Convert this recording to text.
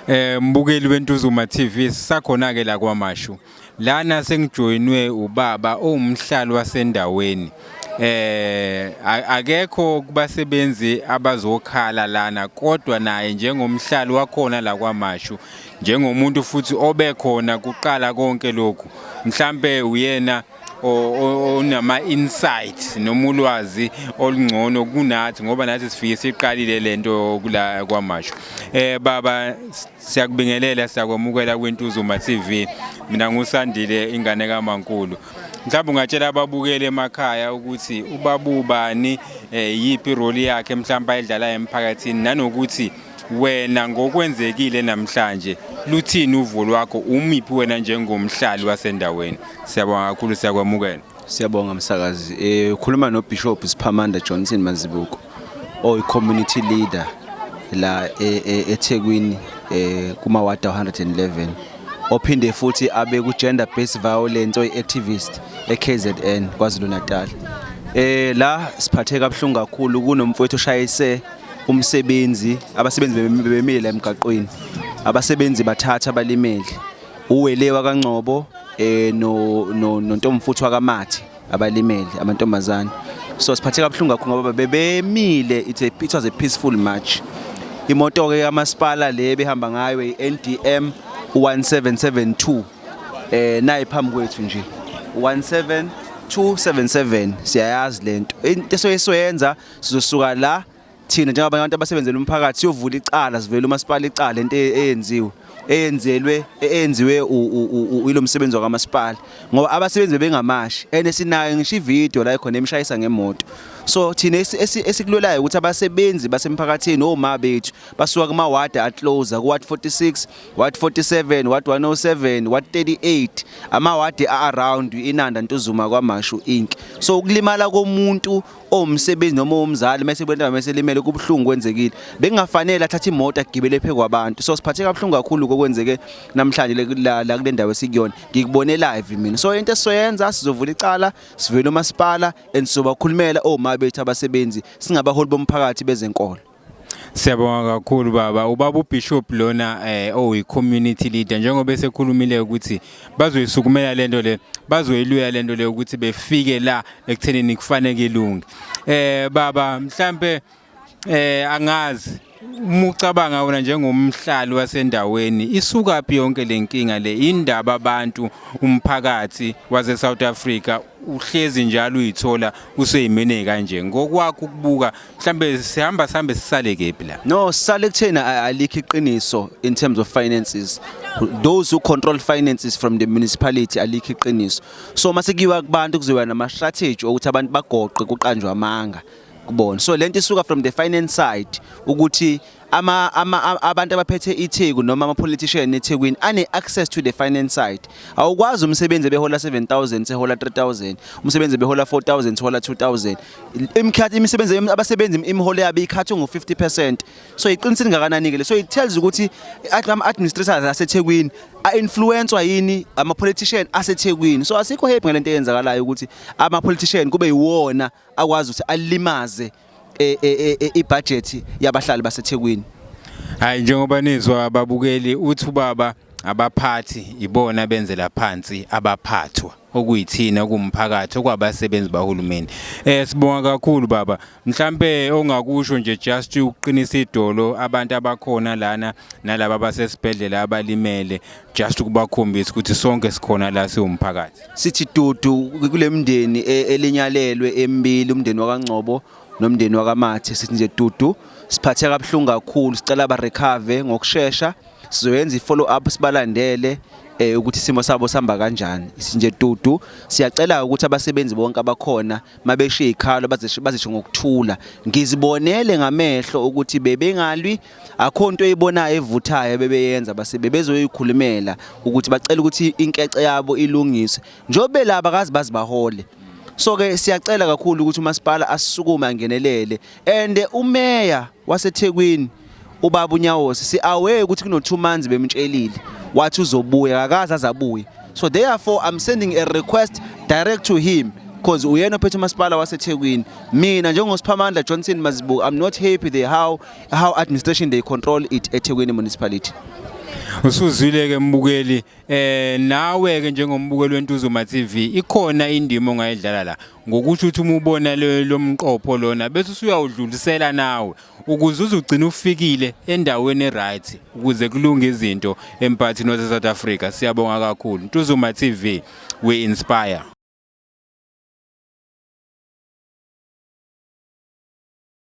Eh mbukeli weNtuzuma TV sisakhona ke la kwaMashu. Lana sengijoyinwe ubaba owumhlali wasendaweni. Eh akekho kubasebenzi abazokhala lana kodwa naye njengomhlali wakhona la kwaMashu njengomuntu futhi obekhona kuqala konke lokhu. Mhlambe uyena onama insight noma ulwazi olungcono kunathi ngoba nathi sifike siqalile lento kula kwamasho eh baba siyakubingelela siyakwamukela kwintuzuma TV mina ngusandile ingane kamankulu mhlawumbe ungatshela ababukeli emakhaya ukuthi ubabubani eh, yipi role yakhe mhlawumbe ayidlalayo emphakathini nanokuthi wena ngokwenzekile namhlanje luthini uvo lwakho umiphi wena njengomhlali wasendaweni Siyabonga kakhulu siyakwamukela. Siyabonga msakazi. Eh ukhuluma no Bishop Siphamanda Johnson Mazibuko oyi community leader la e, e, eThekwini eh kuma ward 111 ophinde futhi abe ku gender based violence oyi activist eKZN KwaZulu Natal. Eh la siphatheka kabuhlungu kakhulu kunomfowethu oshayise umsebenzi abasebenzi bemile emgaqweni abasebenzi bathatha abalimele uwele wakaNgcobo eh no no nontomfuthu wakaMathi abalimele amantombazane so siphathe kabuhlungu kakhulu ngoba bebemile it's a it was a peaceful march imoto ke kamasipala le behamba ngayo iNDM 1772 eh nayi phambi kwethu nje 17277 siyayazi lento into soyisoyenza sizosuka la thina njengabanye abantu abasebenzela umphakathi siyovula icala sivele umasipala icala into e-, eyenziwe eyenzelwe eyenziwe ilo msebenzi wakamasipala ngoba abasebenzi bebengamashi and sinayo ngisho ivideo la ikhona emshayisa ngemoto so thina esikulolayo ukuthi abasebenzi basemphakathini oma bethu basuka kuma ward aclose ku ward 46 ward 47 ward 107 ward 38 ama ward around inanda ntuzuma kwamashu inki so ukulimala komuntu owumsebenzi noma owumzali mese kwentaba mese limele kubuhlungu kwenzekile bekungafanele athathe imoto agibele phe kwabantu so siphatheka kabuhlungu kakhulu kokwenzeke namhlanje la la kule ndawo esikuyona ngikubone live mina so into esizoyenza sizovula icala sivele umasipala and sizobakhulumela omabethu abasebenzi singabaholi bomphakathi bezenkolo Siyabonga kakhulu baba. Ubaba uBishop lona eh oyi-community leader njengoba esekhulumile ukuthi bazoyisukumela lento le, bazoyiluya lento le ukuthi befike la ekuthenini kufaneke ilunge. Eh baba mhlambe eh angazi uma ucabanga wena njengomhlali wasendaweni isuka phi yonke lenkinga le indaba abantu umphakathi wase South Africa uhlezi njalo uyithola useyimene kanje ngokwakho ukubuka mhlambe sihamba sihambe sisale kephi la no sisale kuthena alikho iqiniso in terms of finances those who control finances from the municipality alikho iqiniso so mase kuyiwa kubantu kuzoba nama strategy ukuthi abantu bagoqe kuqanjwa amanga kubona so lento isuka from the finance side ukuthi ama, ama abantu abaphethe iTheku noma ama politician eThekwini ane access to the finance side awukwazi umsebenzi behola 7000 sehola 3000 umsebenzi behola 4000 sehola 2000 imkhathi imisebenzi abasebenzi imiholo yabo ikhathwe ngo 50% so iqinisile ngakanani ke so it tells ukuthi ama administrators aseThekwini a influencewa yini ama politician aseThekwini so asikho happy ngalento eyenzakalayo ukuthi ama politician kube yiwona akwazi ukuthi alimaze e, e, e, ibhajethi yabahlali baseThekwini. Hayi njengoba nizwa ababukeli uthi ubaba abaphathi ibona benzela phansi abaphathwa okuyithina kumphakathi okwabasebenzi bahulumeni eh sibonga kakhulu baba mhlambe ongakusho nje just ukuqinisa idolo abantu abakhona lana nalabo abasesibhedlela abalimele just ukubakhombisa ukuthi sonke sikhona la siwumphakathi sithi dudu kule mndeni e, elinyalelwe embili umndeni wakangcobo nomndeni wakamathe sithi nje dudu siphathe kabuhlungu kakhulu sicela ba recover ngokushesha sizoyenza i-follow up sibalandele eh ukuthi isimo sabo sihamba kanjani isinje dudu siyacela ukuthi abasebenzi bonke abakhona mabeshiye ikhalo bazisho ngokuthula ngizibonele ngamehlo ukuthi bebengalwi akho nto eyibonayo evuthayo bebeyenza base bebezoyikhulumela ukuthi bacela ukuthi inkece yabo ilungiswe njobe laba kazi bazibahole so ke siyacela kakhulu ukuthi umasipala asisukume angenelele and umeya waseThekwini ubaba uNyawosi si aware ukuthi kuno 2 months bemtshelile wathi uzobuya akaza azabuye so therefore i'm sending a request direct to him because uyena ophethe umasipala waseThekwini mina njengosiphamandla Johnson Mazibuko i'm not happy the how how administration they control it eThekwini municipality usuzwile ke mbukeli eh nawe ke njengombukeli wentuzuma TV ikhona indima ongayidlala la ngokuthi uthi uma ubona lo mqopho lona bese usuyawudlulisela nawe ukuze uzugcina ufikile endaweni right ukuze kulunge izinto empathini wase South Africa siyabonga kakhulu Ntuzuma TV we inspire